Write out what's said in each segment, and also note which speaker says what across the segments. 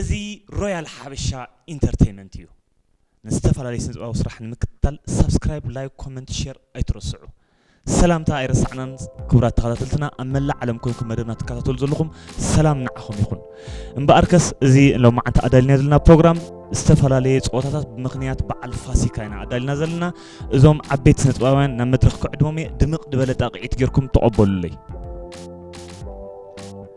Speaker 1: እዚ ሮያል ሓበሻ ኢንተርተይመንት እዩ ንዝተፈላለዩ ስነጥበባዊ ስራሕ ንምክትታል ሳብስክራይብ ላይክ ኮመንት ሼር ኣይትረስዑ ሰላምታ ኣይረሳዕናን ክቡራት ተኸታተልትና ኣብ መላእ ዓለም ኮንኩም መደብና ትከታተሉ ዘለኹም ሰላም ንዓኹም ይኹን እምበኣርከስ እዚ ሎማዓንቲ ኣዳሊና ዘለና ፕሮግራም ዝተፈላለየ ፀወታታት ብምክንያት በዓል ፋሲካ ኢና ኣዳሊና ዘለና እዞም ዓበይቲ ስነጥበባውያን ናብ መድረኽ ክዕድሞም እየ ድምቕ ድበለ ጣቕዒት ጌርኩም ተቐበሉለይ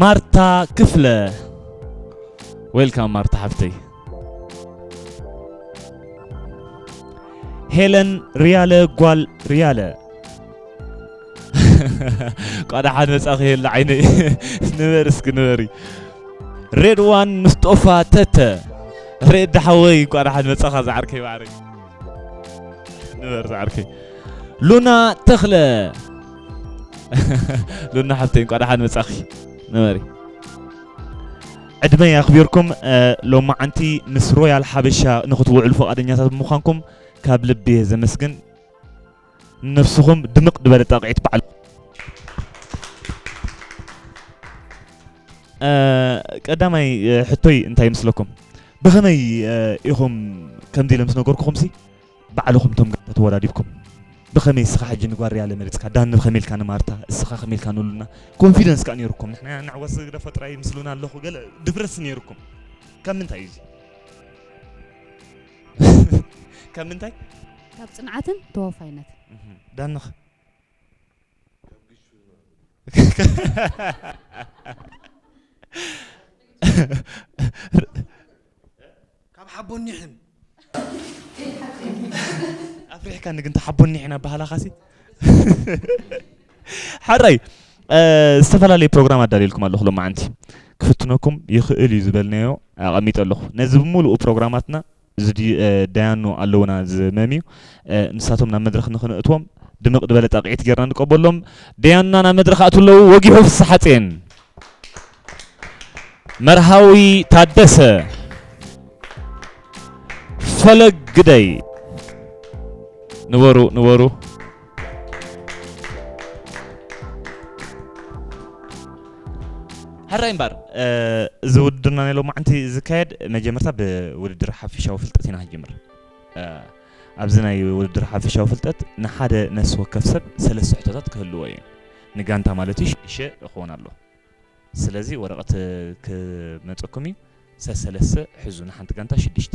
Speaker 1: ማርታ ክፍለ ዌልካም ማርታ ሓፍተይ ሄለን ርያለ ጓል ርያለ ቋዳ ሓደ መጻኺ የለ ዓይነይ ንበር እስኪ ንበሪ ሬድዋን ምስ ጦፋ ተተ ሬድ ሓወይ ቋዳ ሓደ መጻኻ ዝዓርከይ ባዕረይ ንበር ዝዓርከይ ሉና ተኽለ ሉና ሓብተይ እንኳዕ ደሓን መጻኺ ንበሪ ዕድመ ኣኽቢርኩም ሎማዓንቲ ምስ ሮያል ሓበሻ ንክትውዕሉ ፈቃደኛታት ብምዃንኩም ካብ ልቢ እየ ዘመስግን ነብስኹም ድምቅ ድበለ ጣቕዒት በዓል ቀዳማይ ሕቶይ እንታይ ይመስለኩም ብኸመይ ኢኹም ከምዚ ኢለ ምስ ነገርኩኹምሲ ባዕልኹም እቶም ጋንታ ተወዳዲብኩም ብኸመይ እስኻ ሕጂ ንጓል ሪያለ መሪጽካ ዳኒ ብኸመይ ኢልካ ንማርታ እስኻ ከመይ ኢልካ ንሉና ኮንፊደንስ ከኣ ኔሩኩም ንሕና ኢና ንዕወት ዝግደፎ ጥራይ ምስ ሉና ኣለኹ ገለ ድፍረትስ ኔሩኩም ካብ ምንታይ እዩ ካብ ምንታይ ካብ ጽንዓትን
Speaker 2: ተወፋይነትን ዳንኽ
Speaker 3: ካብ ሓቦኒሕን
Speaker 1: ኣፍሪሕካ ንግን ተሓቦኒሕን ኣባህላኻሲ ሓራይ ዝተፈላለዩ ፕሮግራም ኣዳልየልኩም ኣለኹ ሎማዓንቲ ክፍትነኩም ይኽእል እዩ ዝበልናዮ ኣቐሚጠ ኣለኹ ነዚ ብምሉኡ ፕሮግራማትና እዚ ድዩ ዳያኑ ኣለውና ዝመም እዩ ንሳቶም ናብ መድረኽ ንክንእትዎም ድምቕ ድበለ ጣቕዒት ጌርና ንቀበሎም ደያኑና ናብ መድረኽ ኣቱ ኣለዉ ወጊሑ ፍስሓጼን መርሃዊ ታደሰ ፈለግ ግደይ ንበሩ ንበሩ ሕራይ እምበር እዚ ውድድርና ናይ ሎማዕንቲ ዝካየድ መጀመርታ ብውድድር ሓፈሻዊ ፍልጠት ኢና ክንጅምር ኣብዚ ናይ ውድድር ሓፈሻዊ ፍልጠት ንሓደ ነፍሲ ወከፍ ሰብ ሰለስተ ሕቶታት ክህልዎ እዩ ንጋንታ ማለት እዩ ሽሸ እኸውን ኣሎ ስለዚ ወረቐት ክመፀኩም እዩ ሰሰለስተ ሕዙ ንሓንቲ ጋንታ ሽዱሽተ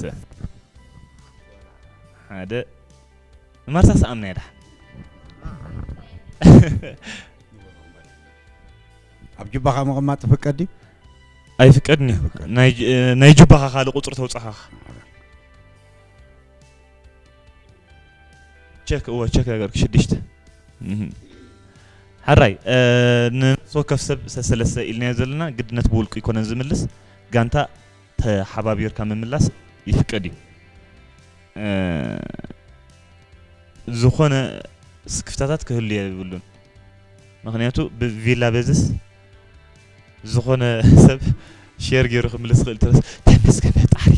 Speaker 3: ሰ
Speaker 1: ሓደ ማርሳ ሰኣምና እያ ድሓን
Speaker 3: ኣብ ጅባኻ ምቕማጥ ትፍቀድ ድዩ ኣይፍቀድን
Speaker 1: እዩ ናይ ጅ- ናይ ጁባኻ ካልእ ቁፅሪ ተውፅኻ ቸክ እወ ቸክ ነገርክ ሽዱሽተ እህም። ሓራይ እ፣ ንነፍሲ ወከፍ ሰብ ሰሰለሰ ኢልናዮ ዘለና ግድነት ብውልቁ ይኮነን ዝምልስ ጋንታ ተሓባቢርካ ምምላስ ይፍቀድ እዩ። ዝኾነ ስክፍታታት ክህሉ የብሉን። ምክንያቱ ብቪላ በዝስ ዝኾነ ሰብ ሼር ገይሩ ክምልስ ይኽእል ትረስ ተመስገን ፈጣሪ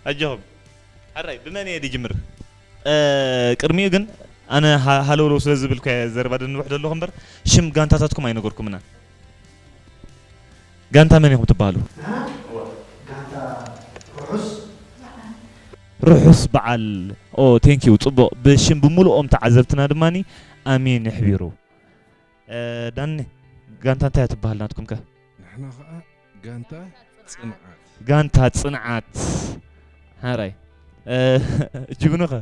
Speaker 1: ኣጆኹም። ሕራይ ብመን እየ ድጅምር? ቅድሚኡ ግን ኣነ ሃለውለው ስለ ዝብልኩ ዘረባ ደንብሕ ዘለኹ እምበር ሽም ጋንታታትኩም ኣይነገርኩምና ጋንታ መን ኢኹም ትበሃሉ ርሑስ በዓል ኦ ቴንኪዩ ጽቡቕ ብሽም ብምሉኦም ተዓዘብትና ድማ ኣሜን ይሕቢሩ ዳኒ ጋንታ እንታይ እያ ትበሃል ናትኩም ከ? ንሕና ኸኣ
Speaker 4: ጋንታ ጽንዓት። ጋንታ
Speaker 1: ጽንዓት ሓራይ ጅግኑ ከ?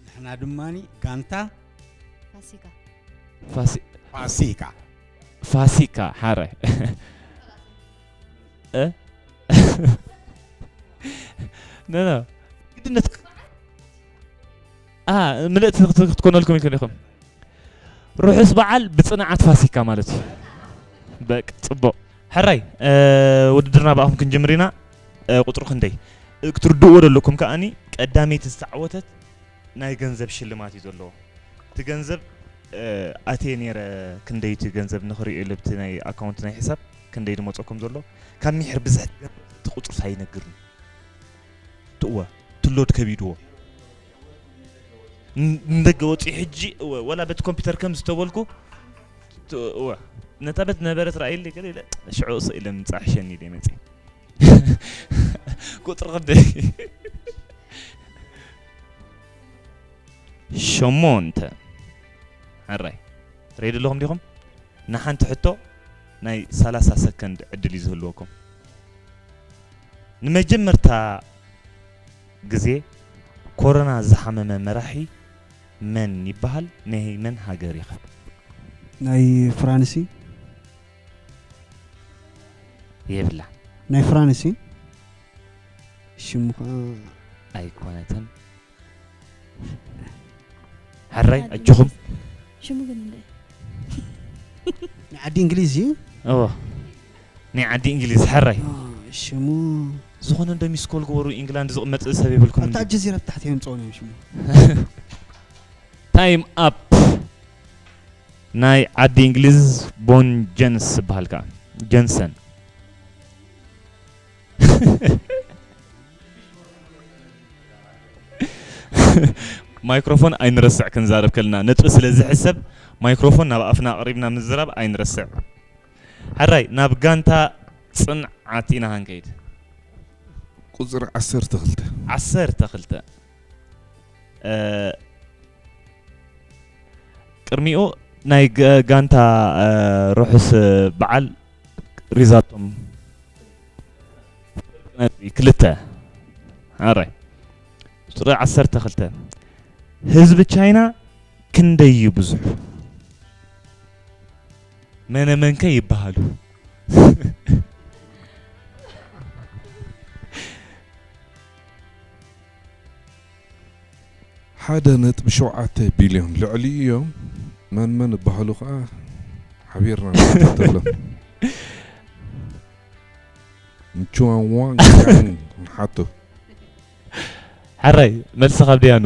Speaker 3: ንሕና ድማ ጋንታ
Speaker 2: ፋሲካ ፋሲካ
Speaker 1: ፋሲካ ሓራይ ኖ ኖ ግድነት ኣሃ ምልእቲ ክትኮነልኩም ኢልኩም ዲኹም? ርሑስ በዓል ብጽንዓት ፋሲካ ማለት እዩ። በቃ ጽቡቕ ሕራይ ውድድርና ብኣኹም ክንጅምር ኢና። ቁጽሩ ክንደይ ክትርድእዎ ዘለኩም ከኣኒ ቀዳመይቲ ዝተዓወተት ናይ ገንዘብ ሽልማት እዩ ዘለዎ። እቲ ገንዘብ ኣትየ ነይረ ክንደይ እቲ ገንዘብ ንኽሪኦ ኢለ ብቲ ናይ ኣካውንት ናይ ሕሳብ ክንደይ ድመፀኩም ዘሎ ካብ ሚሕር ብዝሕ እቲ ቁፅርስ ኣይነግርን ትእወ ትሎድ ከቢድዎ ንደገ ወፂ ሕጂ እወ ወላ በቲ ኮምፒውተር ከም ዝተበልኩ እወ ነታ በት ነበረት ራእይሊ ገለ ኢለ ሽዑ እሰ ኢለ ምፃ ሕሸኒ ኢለ መፂ ቁፅሪ ክንደይ ሸሞንተ ሕራይ ሬዲ ኣለኹም ዲኹም ንሓንቲ ሕቶ ናይ 30 ሰከንድ ዕድል እዩ ዝህልወኩም ንመጀመርታ ግዜ ኮሮና ዝሓመመ መራሒ መን ይበሃል? ናይ መን ሃገር ይኸ?
Speaker 5: ናይ ፍራንስ እዩ።
Speaker 1: የብላን። ናይ ፍራንስ
Speaker 5: እዩ። ሽሙ ከኣ ኣይኮነትን።
Speaker 1: ሕራይ ኣጆኹም ሽሙ ግን
Speaker 2: እንታይ ናይ
Speaker 5: ዓዲ እንግሊዝ እዩ እዎ
Speaker 1: ናይ ዓዲ እንግሊዝ ሕራይ አ፣ ሽሙ
Speaker 5: ዝኾነ
Speaker 1: እንዶ ሚስ ኮል ግበሩ ኢንግላንድ ዝቕመጥ ሰብ የብልኩም ኣብታ ኣልጀዚራ ብታሕቲ
Speaker 5: የምፅኦን እዮም ሽሙ
Speaker 1: ታይም ኣፕ ናይ ዓዲ እንግሊዝ ቦን ጀንስ ዝበሃል ከዓ ጀንሰን ማይክሮፎን ኣይንረስዕ ክንዛረብ ከለና ነጥቢ ስለ ዝሕሰብ ማይክሮፎን ናብ ኣፍና ኣቕሪብና ምዝራብ ኣይንረስዕ ሕራይ ናብ ጋንታ ፅንዓት ኢና ሃንከይድ
Speaker 4: ቁፅሪ ዓሰርተ ክልተ ዓሰርተ ክልተ
Speaker 1: ቅድሚኡ ናይ ጋንታ ርሑስ በዓል ሪዛቶም ክልተ ኣራይ ቁፅሪ ዓሰርተ ክልተ ህዝቢ ቻይና ክንደይ እዩ ብዙሑ መነመንከ ይበሃሉ
Speaker 4: ሓደ ነጥቢ ሸውዓተ ቢልዮን ልዕሊኡ እዮም መን መን እባሃሉ ከዓ ሓቢርና ንከታተሎም ንቹዋንዋን ቻን ንሓቶ ሕራይ
Speaker 1: መልሲ ካብ ደያኑ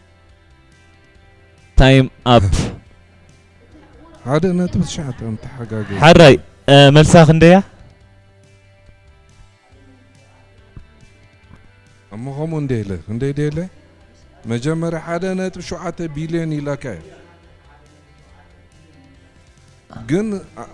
Speaker 1: ታይም ኣፕ ሓደ
Speaker 4: ነጥቢ ትሽዓተ እዮም ተሓጋገ ሓራይ እ፣
Speaker 1: መልሳ ክንደያ
Speaker 4: እሞ ከምኡ እንደ ኢለ እንደ ኢደ ኢለ መጀመርያ ሓደ ነጥቢ ሸውዓተ ቢልዮን ኢላካ እዩ ግን አ-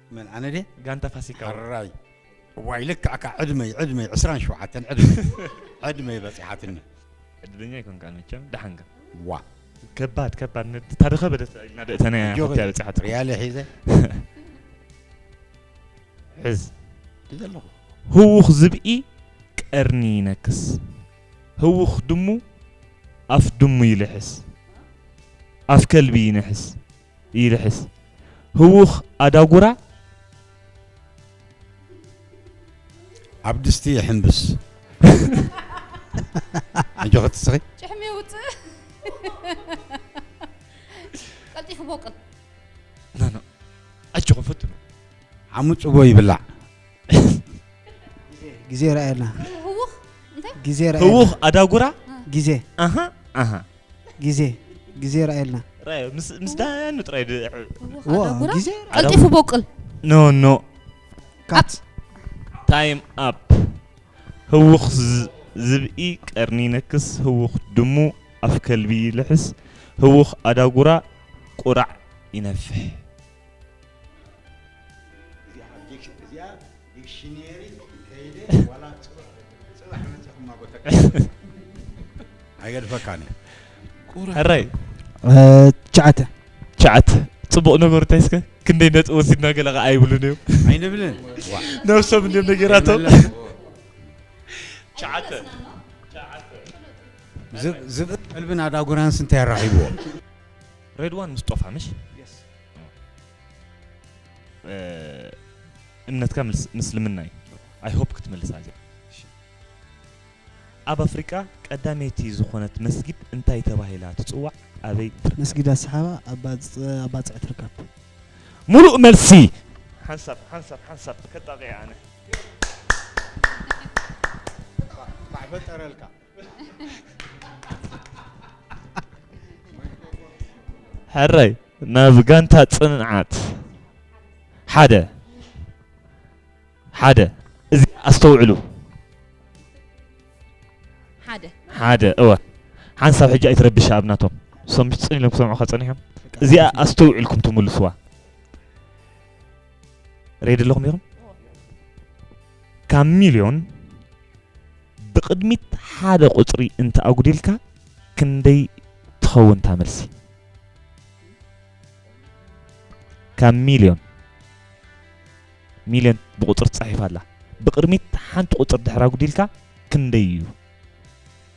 Speaker 3: መን
Speaker 1: ኣነ ድየ ጋንታ ፋሲካ
Speaker 3: ሕራይ ዋይ ልክዕካ ዕድመይ ዕድመይ ዕስራን ሸውዓተን ዕድመይ ዕድመይ በፂሓትኒ ዕድለኛ
Speaker 1: ይኮንካ መቸም ደሓንካ ዋ
Speaker 3: ከባድ
Speaker 1: ከባድ ታሪኸ በደት ኢና ደእተናያ ኮትያ በፂሓት ሪያለ ሒዘ ሕዝ ሒዘ ኣለኹ
Speaker 3: ህውኽ
Speaker 1: ዝብኢ ቀርኒ ይነክስ ህውኽ ድሙ ኣፍ ድሙ ይልሕስ ኣፍ ከልቢ ይንሕስ ይልሕስ ህዉኽ ኣዳጉራ።
Speaker 3: ኣብ ድስቲ ይሕንብስ። ኣጆኺ ትስኺ። ጭሕሚ የውጽእ
Speaker 6: ቀልጢፉ ቦቅል ኖ
Speaker 1: ኖ ኣጆኹም ፈትኑ። ሓሙ ጽቦ
Speaker 3: ይብላዕ።
Speaker 5: ግዜ ረኣየልና ህውኽ
Speaker 6: እንታይ ግዜ ረኣየልና
Speaker 5: ህዉኽ ኣዳጉራ።
Speaker 1: ግዜ ኣሃ
Speaker 5: ኣሃ
Speaker 1: ግዜ
Speaker 5: ግዜ ርኣየልና ራዮ ምስ ምስ
Speaker 1: ዳያኑ ጥራይ ብ- እወ፣ ዋ፣ ኣዳጉራ
Speaker 5: ግዜ ቀልጢፉ ቦቅል
Speaker 6: ኖ ኖ
Speaker 1: ካት ታይም ኣፕ ህውኽ ዝ- ዝብኢ ቀርኒ ይነክስ ህውኽ ድሙ ኣፍ ከልቢ ይልሕስ ህውኽ ኣዳጉራ ቁራዕ ይነፍሕ
Speaker 3: ኣይገድፈካን ሕራይ
Speaker 1: ትሽዓተ
Speaker 5: ትሽዓተ
Speaker 1: ፅቡቕ ነገሩ እንታይ እስከ ክንደይ ነጥቢ ወሲድና ገለ ከዓ ኣይብሉን እዮም ኣይንብልን
Speaker 3: ነብሶም እንዲም
Speaker 1: ነገራቶም
Speaker 3: ትሽዓተ ዝብን ኣዳጉራንስ እንታይ ኣራኺብዎ
Speaker 1: ሬድዋን ምስጦፋ ምሽ እምነትካ ምስልምና እዩ ኣይሆፕ ክትመልሳ እዚኣ ኣብ ኣፍሪቃ ቀዳመይቲ ዝኾነት መስጊድ እንታይ ተባሂላ ትፅዋዕ ኣበይ መስጊድ ኣሰሓባ
Speaker 5: ኣባፅዕ ትርከብ ሙሉእ
Speaker 1: መልሲ ሓንሳብ ሓንሳብ ሓንሳብ ከጣቂዐ ኣነ
Speaker 3: ማዕፈጠረልካ
Speaker 1: ሕራይ ናብ ጋንታ ፅንዓት ሓደ ሓደ እዚ ኣስተውዕሉ ሓደ ሓደ እወ ሓንሳብ ሕጂ ኣይትረብሻ ኣብ ናቶም ሰምፅን ኢሎም ክሰምዑካ ፀኒሖም እዚኣ ኣስተውዒልኩም ትምልስዋ ሬድ ኣለኹም ኢኹም ካብ ሚልዮን ብቕድሚት ሓደ ቁፅሪ እንተ ኣጉዲልካ ክንደይ ትኸውን እታ መልሲ ካብ ሚልዮን ሚልዮን ብቁፅሪ ትፃሒፍ ኣላ ብቕድሚት ሓንቲ ቁፅሪ ድሕር ኣጉዲልካ ክንደይ እዩ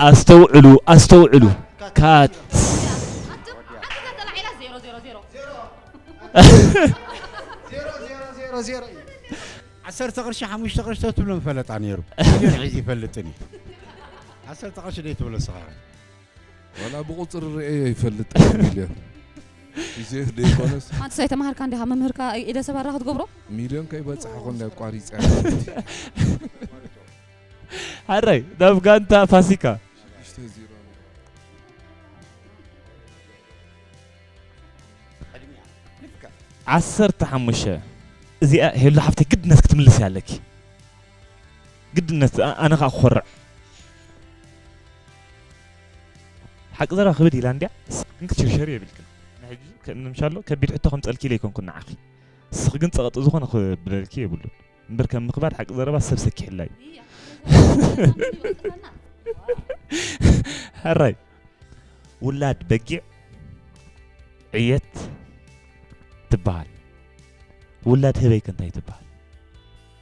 Speaker 1: ኣስተውዕሉ ኣስተውዕሉ ካት
Speaker 3: ዓሰርተ ቅርሺ ሓሙሽተ ቅርሺ ተትብሎ ምፈለጣ ነይሩ ሚልዮን ሒዙ ይፈልጥን እዩ ዓሰርተ ቅርሺ ደይትብሎ ስኻ ዋላ
Speaker 4: ብቁፅሪ ርእየ ኣይፈልጥ ሚልዮን ግዜ ዘይኮነስ ሓንቲ ሳይ ተማሃርካ እንዲኻ
Speaker 6: መምህርካ ኢደ ሰባራ ክትገብሮ ሚልዮን ከይበፅሐ
Speaker 4: ኮንዳ ኣቋሪፀ
Speaker 1: ሓራይ ናብ ጋንታ ፋሲካ ሽዱሽተ ዜሮ ቅድሚያ ልክዕ ዓሰርተ ሓሙሽተ እዚኣ ሄሉ ሓፍተይ ግድነት ክትምልስያ ኣለኪ ግድነት ዝኣ ኣነ ከኣ ክኮርዕ። ሓቂ ዘረባ ክብድ ኢላ እንድያ እስኺ ግን ክትሽርሸሪ የብልክን ንሕጂ ከእንምሻሎ ከቢድ ሕቶ ከምጸልኪ ኢለ ኣይኮንኩን ንዓኺ እስኺ ግን ጸቐጢ ዝኾነ ክብለልኪ የብሉን እምበር ከም ምኽባድ ሓቂ ዘረባ ሰብ ሰኪሕላ እዩ ሕራይ ውላድ በጊዕ ዕየት ትበሃል ውላድ ህበይከ እንታይ ትበሃል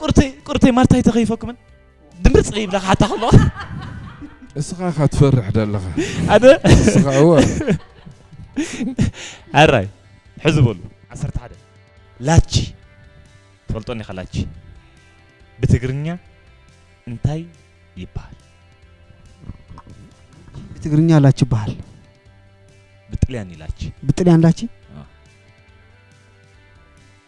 Speaker 1: ቁርተይ ቁርተይ ማርታይ ተኸይፈኩምን ድምርፅ ይብላ ሓታ ከሎ እስኻ
Speaker 4: ኢኻ ትፈርሕ ደለኻ ኣደ
Speaker 1: እስኻ እወ ኣራይ ሕዚ በሉ ዓሰርተ ሓደ ላቺ ትፈልጦን ኢኻ ላቺ ብትግርኛ እንታይ ይበሃል
Speaker 5: ብትግርኛ ላቺ ይበሃል
Speaker 1: ብጥልያን እዩ ላቺ ብጥልያን ላቺ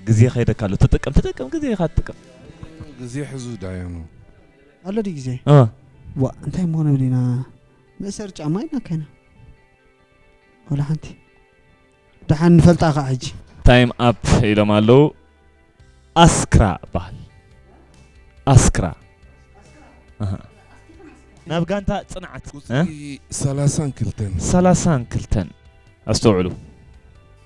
Speaker 1: ግዜ ከይደካ ኣሎ ተጠቀም ተጠቀም ግዜካ ትጥቀም ግዜ
Speaker 4: ሕዙ ዳያኑ ኣሎ ድዩ
Speaker 5: ግዜ እ ዋ እንታይ እሞ ንብል ኢና መእሰሪ ጫማ ኢልና ከይና ወላ ሓንቲ ደሓን ንፈልጣ ከዓ ሕጂ ታይም ኣፕ
Speaker 1: ኢሎም ኣለዉ ኣስክራ በሃል ኣስክራ ኣሃ። ናብ ጋንታ ፅንዓት እ? ቁፅሪ ሰላሳን ክልተን ሰላሳን ክልተን ኣስተውዕሉ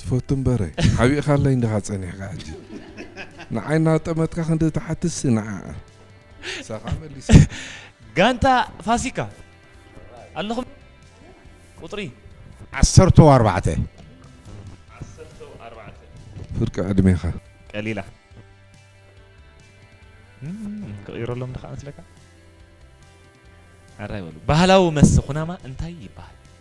Speaker 1: ትፈቱ
Speaker 4: እምበረ ሓቢእኻለይ ዲኻ ጸኒሕካ ሕጂ ንዓይ እናጠመትካ ክንዲ ትሓትትሲ ንዓኣ ሳኻ መሊስካ
Speaker 1: ጋንታ ፋሲካ ኣለኹም ቁጽሪ ዓሰርተው
Speaker 3: ኣርባዕተ ዓሰርተው
Speaker 4: ኣርባዕተ ፍርቂ ዕድሜኻ ቀሊላ
Speaker 1: ክቕይረሎም ድኻ መስለካ ኣራይ በሉ ባህላዊ መስተ ኩናማ እንታይ ይበሃል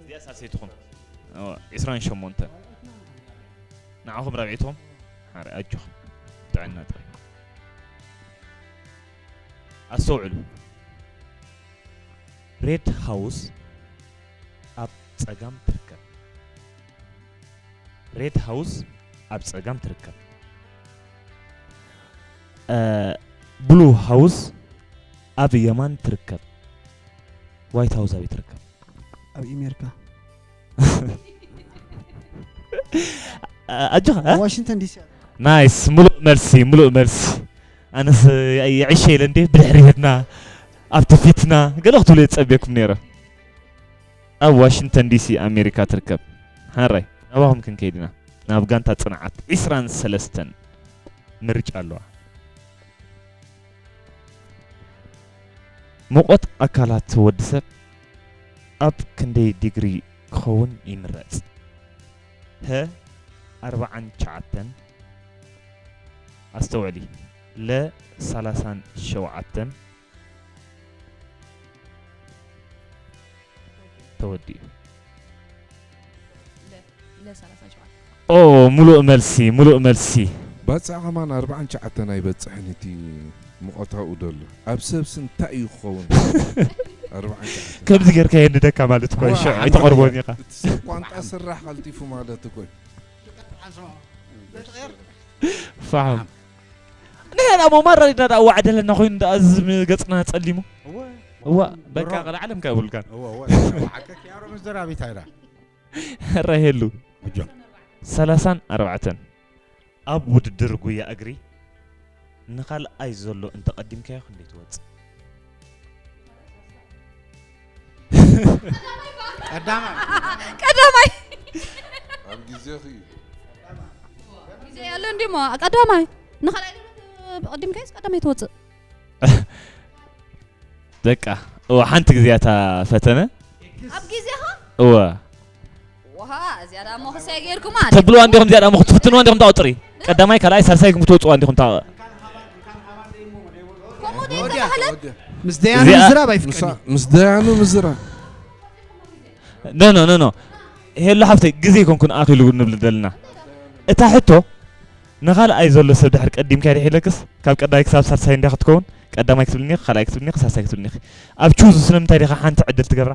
Speaker 1: እዚኣ ሳልሰይትኹም ዕስራን ሸሞንተ ንዓኹም ራብዒትኹም ሓረ ኣጆኹም ጥዕና ጥራይ ኣስተውዕሉ ሬድ ሃውስ ኣብ ጸጋም ትርከብ ሬድ ሃውስ ኣብ ጸጋም ትርከብ ብሉ ሃውስ ኣብ የማን ትርከብ ዋይት ሃውስ ኣበይ ትርከብ? ኣብ ኣሜሪካ ኣጆኻ እ? ዋሽንግተን ዲሲ
Speaker 5: ናይስ ሙሉእ
Speaker 1: መልሲ ሙሉእ መልሲ ኣነስ የዒሸ ኢለ እንዴ ብድሕሪ ሄድና ኣብቲ ፊትና ገለ ክትብሉ የፀብየኩም ነይረ ኣብ ዋሽንግተን ዲሲ ኣሜሪካ ትርከብ ሓራይ ናባኹም ክንከይድ ኢና ናብ ጋንታ ፅንዓት 23 ምርጫ ኣለዋ ሙቐት ኣካላት ወዲ ሰብ ኣብ ክንደይ ዲግሪ ክኸውን ይምረጽ? ሀ ኣርብዓን ትሽዓተን፣ ኣስተውዕሊ፣ ለ ሰላሳን ሸውዓተን፣ ተወዲኡ።
Speaker 6: ኦ ሙሉእ
Speaker 1: መልሲ ሙሉእ መልሲ። ባጽዕ ከማን
Speaker 4: ኣርብዓን ትሽዓተን ኣይበጽሕን እቲ ሙቀታኡ ደሎ ኣብ ሰብሲ እንታይ እዩ ክኸውን ኣርብዓን ትሽዓተን ከምዚ
Speaker 1: ጌርካ የንደካ ማለት እኮ እዩ ሽዑ ኣይተቐርቦን ኢኻ እቲ ሰብ ቋንጣ ስራሕ
Speaker 4: ቀልጢፉ ማለት እኮ እዩ
Speaker 1: ፋሕም ንሕና ሞ ማራ ሪድና ደኣ ዋዕ ደለና ኮይኑ ደኣ እዚ ገጽና ጸሊሙ እዋ በቃ ቀለ ዓለም ከብልካ
Speaker 3: ራሄሉ ሰላሳን
Speaker 1: ኣርባዕተን ኣብ ውድድር ጉያ እግሪ ንካልኣይ ዘሎ እንተቐዲምካዮ ክንደይ ትወፅእ
Speaker 3: ቀዳማይ ቀዳማይ
Speaker 4: ኣብ ግዜኺ እዩ
Speaker 6: ግዜ ያለ እንዲ ሞ ቀዳማይ ንኻልኣይ ብቐዲም ከይስ ቀዳማይ ትወፅእ
Speaker 1: በቃ እወ ሓንቲ ግዜ እያ እታ ፈተነ ኣብ ግዜኻ
Speaker 6: እወ ውሃ እዚኣ ደኣ መኹሰይ ገይርኩማ ተብልዋ እንዲኹም እዚኣ ደኣ መኹ
Speaker 1: ትፍትንዋ እንዲኹም ታው ጥሪ ቀዳማይ ካልኣይ ሳልሳይ ኢልኩም ትወፅዋ እንዲኹም ታው ከምኡ ደይ ተባህለት
Speaker 5: ምስ ደያኑ እዚኣ- ምዝራብ ኣይፍቀድን እዩ። ምስ ደያኑ ምዝራ
Speaker 4: ኖ ኖ
Speaker 1: ኖ ኖ ሄሎ ሓፍተይ ግዜ ኮንኩን ኣኺሉ ንብል ዘለና እታ ሕቶ ንኻልኣይ ዘሎ ሰብ ድሕር ቀዲምካ ይድሒለክስ ካብ ቀዳማይ ክሳብ ሳልሳይ እንዲያ ክትከውን ቀዳማይ ክትብልኒ ኢኺ ካልኣይ ክትብልኒ ኢኺ ሳልሳይ ክትብልኒ ኢኺ ኣብ ቹዝ ስለምንታይ ዲኻ ሓንቲ ዕድል ትገብራ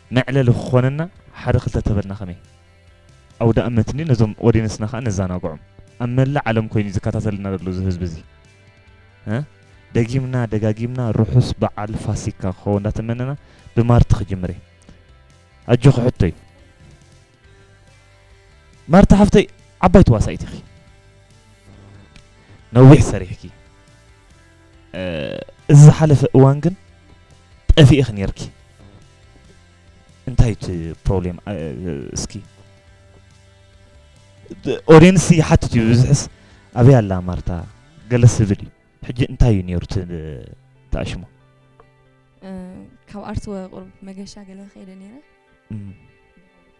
Speaker 1: መዕለሊ ክኾነና ሓደ ክልተ ተበልና ከመይ? ኣውዳእመት እንድዩ ነዞም ኦዴንስና ከኣ ነዛናግዖም። ኣብ መላእ ዓለም ኮይኑ እዩ ዝከታተለና ዘሎ እዚ ህዝቢ እዚ። እ ደጊምና ደጋጊምና ርሑስ በዓል ፋሲካ ክኸውን እንዳተመነና ብማርቲ ክጅምር እየ። ኣጆኺ ሕቶይ። ማርታ ሓፍተይ ዓባይ ተዋሳኢት ኢኺ ነዊሕ ሰሪሕኪ እዚ ዝሓለፈ እዋን ግን ጠፊእኺ ነርኪ እንታይ እቲ ፕሮብሌም እስኪ ኦዲየንስ ይሓትት እዩ ብዝሕስ ኣበይ ኣላ ማርታ ገለ ስብል እዩ ሕጂ እንታይ እዩ ነይሩ ተኣሽሞ
Speaker 7: ካብ ኣርት ወቅሩብ መገሻ ገለ ከይደ ነይረ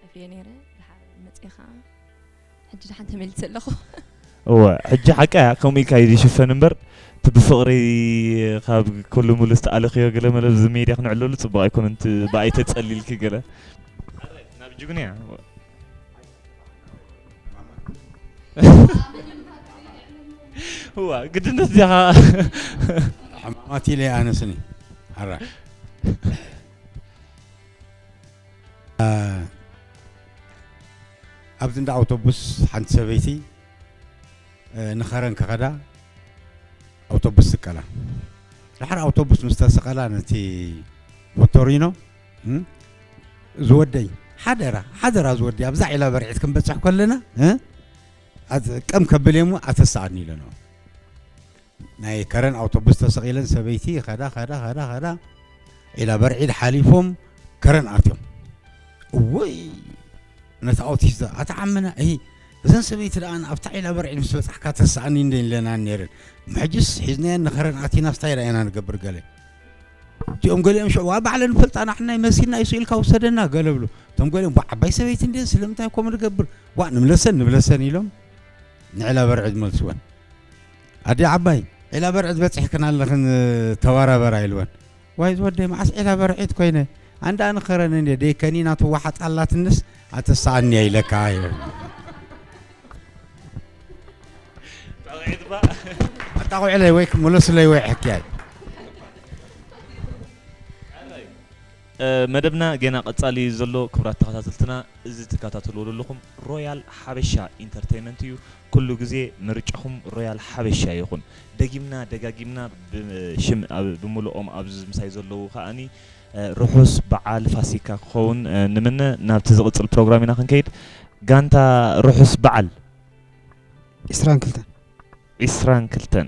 Speaker 7: ጠፍየ ነይረ ድሓር መፅእ ከዓ ሕጂ ድሓን ተመሊሰ ኣለኹ እወ
Speaker 1: ሕጂ ሓቂ እያ ከምኡ ኢልካ እዩ ዝሽፈን እምበር እቲ ብፍቕሪ ካብ ኩሉ ሙሉ ዝተኣለኽዮ ገለ መለ እዚ ሜድያ ክንዕለሉ ፅቡቕ ኣይኮነን እቲ ብኣይ ተፀሊልኪ ገለ ናብ ጅግኑ እያ እዋ ግድነት እዚኣ
Speaker 3: ሕማማት ኢለ ኣነስኒ ሓራ ኣብዚ እንዳ ኣውቶቡስ ሓንቲ ሰበይቲ ንኸረን ክኸዳ ኣውቶቡስ ስቀላ ድሓር ኣውቶቡስ ምስ ተሰቐላ ነቲ ሞቶሪኖ ዝወደይ ሓደራ ሓደራ ዝወደይ ኣብዛ ዒላ በርዒት ክንበፅሕ ከለና ቀም ከብል እየ እሞ ኣተሰኣኒ ኢለንኦ ናይ ከረን ኣውቶቡስ ተሰቒለን ሰበይቲ ይኸዳ ኸዳ ኸዳ ኸዳ ዒላ በርዒድ ሓሊፎም ከረን ኣትዮም እወይ ነቲ ኣውቲስት ኣታ ዓምና እሂ እዘን ሰበይቲ ደኣ ኣብታ ዒላ በርዒድ ምስ በጻሕካ ተስኣኒ እንደ ኢለናን ነይረን ምሕጅስ ሒዝናየን ንኸረን ኣቲና ስታይ ዳኢና ንገብር ገለ እቲኦም ገሊኦም ሽዑ ኣብ ባዕለን ፈልጣ ናሕና ይመሲልና እዩ ስኢልካ ውሰደና ገለ ብሉ እቶም ገሊኦም ቧ ዓባይ ሰበይቲ እንድን ስለምንታይ ኮም ንገብር ቧ ንምለሰን ንብለሰን ኢሎም ንዕላ በርዕድ መልስወን ኣደይ ዓባይ ዒላ በርዕድ በጺሕክን ኣለኽን ተበራበራ ኢልወን። ዋይ ዝወደይ መዓስ ዒላ በርዒድ ኮይነ ኣንዳ ንኸረን እንዴ ደይ ከኒና ትወሓጥ ኣላትንስ ኣተሰኣኒ እያ ኢለካ ኢወን። ጠቂዒት
Speaker 1: ባ ኣጣቑዕለይ
Speaker 3: ወይ ክምለሱለይ ወይ ሕክያይ
Speaker 1: መደብና ጌና ቀጻሊ እዩ ዘሎ ክብራት ተኸታተልትና እዚ ትከታተልዎ ዘለኹም ሮያል ሓበሻ ኢንተርተይመንት እዩ ኩሉ ግዜ ምርጫኹም ሮያል ሓበሻ ይኹን። ደጊምና ደጋጊምና ብ ሽም ኣብ ብምሉኦም ኣብዚ ምሳይ ዘለዉ ከኣ ርሑስ በዓል ፋሲካ ክኸውን ንምነ። ናብቲ ዝቕጽል ፕሮግራም ኢና ክንከይድ። ጋንታ ርሑስ በዓል!
Speaker 5: ዒስራን ክልተን።
Speaker 1: ዒስራን ክልተን።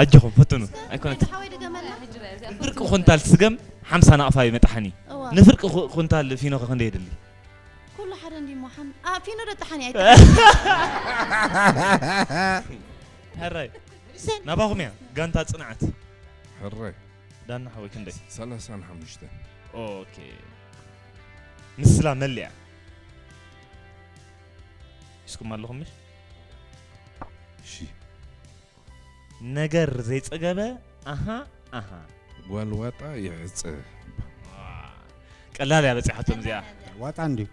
Speaker 1: ኣጆኹም ፈትኑ ኣይኮነት ፍርቂ ኩንታል ስገም ሓምሳ ናቕፋ እዩ መጣሓኒ ንፍርቂ ኩንታል ፊኖ ከ ክንደይ የድሊ ኩሉ ሓደ
Speaker 2: እንዲ ሞሓን ፊኖ ዶ ጠሓኒ ኣይ ሕራይ
Speaker 1: ናባኹም እያ ጋንታ ፅንዓት ሕራይ
Speaker 4: ዳና ሓወይ
Speaker 1: ክንደይ ሰላሳን ሓሙሽተ
Speaker 4: ኦኬ
Speaker 1: ምስላ መሊያ ሒዝኩም ኣለኹም እሺ ነገር ዘይጸገበ ኣሃ ኣሃ። ጓል
Speaker 4: ዋጣ ይዕጸ
Speaker 1: ቀላል እያ በጺሓቶም እዚኣ ዋጣ እንድዩ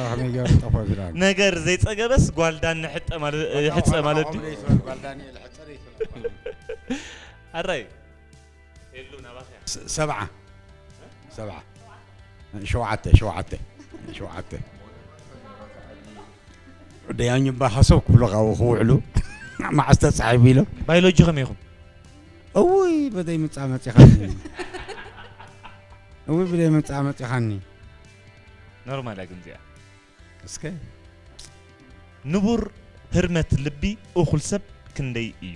Speaker 3: ከመይ ገሩ ጠፎ ዝዳ ነገር ዘይጸገበስ
Speaker 1: ጓል ዳኒ ሕጠ ማለት ሕጸ ማለት ድዩ ጓል ዳኒ
Speaker 3: ሕጠ
Speaker 1: ኣራይ ሄሉ ናባኸያ
Speaker 3: ስ- ሰብዓ ሰብዓ ሸውዓተ ሸውዓተ ሸውዓተ ደያኙ እባ ሓሰብ ክብሉ ካብኡ ክውዕሉ መዓስ ተፃሒፉ ኢሎም ባዮሎጂ ከመይ ኢኹም
Speaker 1: እውይ
Speaker 3: ብደይ ምፃ መፂኻኒ እውይ ብደይ ምፃ መፂኻኒ
Speaker 1: ኖርማል እያ ግን እዚኣ እስከ ንቡር ህርመት ልቢ እኹል ሰብ ክንደይ እዩ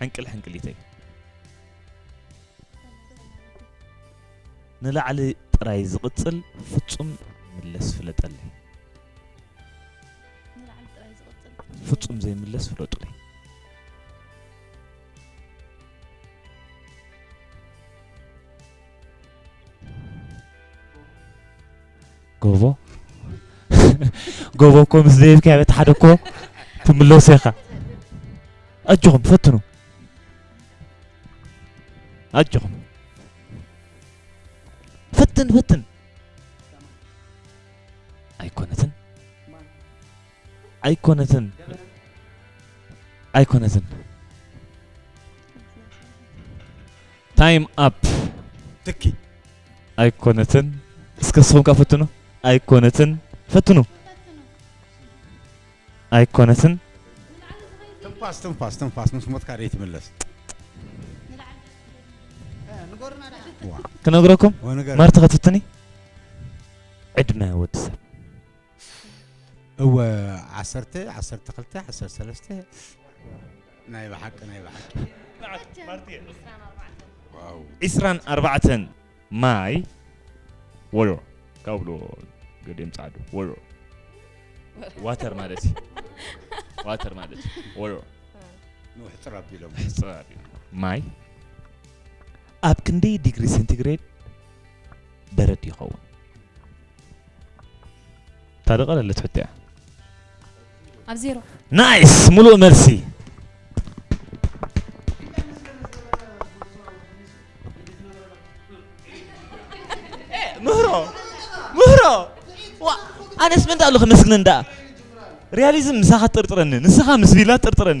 Speaker 1: ሕንቅል ሕንቅሊተይ ንላዕሊ ጥራይ ዝቕጽል ፍጹም ምለስ ፍለጠለይ ንላዕሊ ጥራይ ዝቕጽል ፍጹም ዘይምለስ ፍለጡለይ ጎቦ ጎቦ እኮ ምስ ዘይብካዮ በቲ ሓደ እኮ ትምለሶ ኢኻ ኣጆኹም ፈትኑ ኣጆኹም ፈትን ፈትን ኣይኮነትን ኣይኮነትን ኣይኮነትን ታይም ኣፕ ትኪ ኣይኮነትን እስከ ንስኹም ከ ፈትኑ ኣይኮነትን ፈትኑ ኣይኮነትን ትንፋስ ትንፋስ
Speaker 3: ትንፋስ ምስ ሞትካ ዘይትምለስ
Speaker 1: ክነግረኩም ወንገር ማርቲ ከትፍትኒ ዕድመ ወዲ ሰብ
Speaker 3: እወ ዓሰርተ ዓሰርተ ክልተ ዓሰርተ ሰለስተ ናይ ብሓቂ ናይ ብሓቂ
Speaker 1: ማርትየ
Speaker 4: ዋው ዒስራን
Speaker 1: ኣርባዕተን ማይ ወዮ ካብሎ ገዲም ጻዕዱ ወዮ ዋተር ማለት እዩ ዋተር ማለት እዩ ወዮ ንውሕጥር
Speaker 3: ኣቢሎም ሕጽራብ እዩ ማይ
Speaker 1: ኣብ ክንደይ ዲግሪ ሴንቲግሬድ በረድ ይኸውን ታደቀ ለለ ትፍትያ
Speaker 6: ኣብ ዜሮ ናይስ ሙሉእ
Speaker 1: መልሲ ምህሮ ምህሮ ዋ ኣነስ ምንታይ ኣለኹ ምስግነን ደኣ ሪያሊዝም ምሳኻ ትጥርጥረኒ ንስኻ ምስ ቪላ ትጥርጥረኒ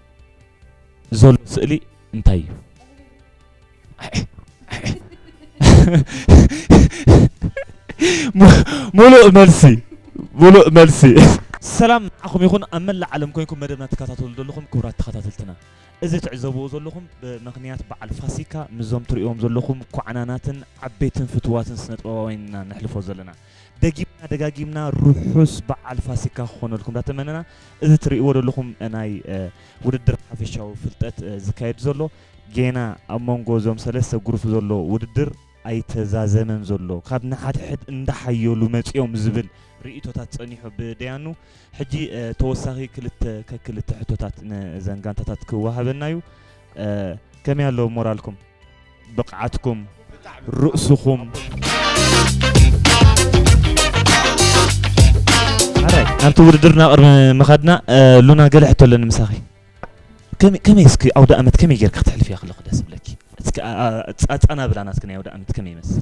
Speaker 1: ዘሎ ስእሊ እንታይ እዩ? ሙሉእ መልሲ ሙሉእ መልሲ ሰላም ንዓኹም ይኹን ኣብ መላእ ዓለም ኮይንኩም መደብና ትከታተሉ ዘለኹም ክቡራት ተኸታተልትና እዚ ትዕዘብዎ ዘለኹም ብምኽንያት በዓል ፋሲካ ምስዞም ትርእዎም ዘለኹም ኳዕናናትን ዓበይትን ፍትዋትን ስነ ጥበባውያን ኢና ነሕልፎ ዘለና ደጊምና ደጋጊምና ርሑስ በዓል ፋሲካ ክኾነልኩም እንዳተመነና እዚ ትርእይዎ ዘለኹም ናይ ውድድር ሓፈሻዊ ፍልጠት ዝካየድ ዘሎ ጌና ኣብ መንጎ እዞም ሰለስተ ጉሩፍ ዘሎ ውድድር ኣይተዛዘመን ዘሎ ካብ ንሓድሕድ እንዳሓየሉ መፂኦም ዝብል ርእቶታት ፀኒሑ ብደያኑ ሕጂ ተወሳኺ ክልተ ከክልተ ሕቶታት ነዘን ጋንታታት ክወሃበና እዩ ከመይ ኣሎ ሞራልኩም ብቕዓትኩም ርእስኹምሕራይ ናብቲ ውድድር ናብ ቅርሚ ምኸድና ሉና ገለ ሕቶ ኣለኒ ምሳኺ ከመይ እስኪ ኣውደ ኣመት ከመይ ጌርካ ክትሕልፍ እያ ከለኹ ደስ ብለኪ እስኪ ኣጻናብላ ናትኪ ናይ ኣውደ ኣመት ከመይ ይመስል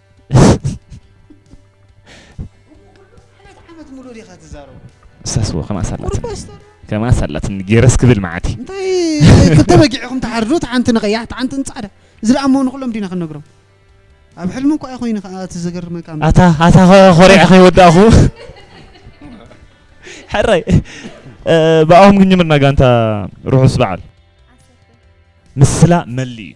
Speaker 5: ሰስዎ ከማስ
Speaker 1: ኣላትኒ ከማስ ኣላትኒ ገረስ ክብል መዓት እዩ እንታይ ክልተ
Speaker 5: በጊዕኹም ትሓርዱ እቲ ሓንቲ ንቀያሕ እቲ ሓንቲ ንፃዕዳ እዚ ደኣ እሞ ንኩሎም ዲና ክንነግሮም ኣብ ሕልሚ እኳ ኮይኑ ከዓ እቲ ዘገርመካ ኣታ ኣታ ኮሪዐ
Speaker 1: ከይወዳእኹ ሕራይ ብኣኹም ክንጅምርና ጋንታ ርሑስ በዓል ምስላ መሊ እዩ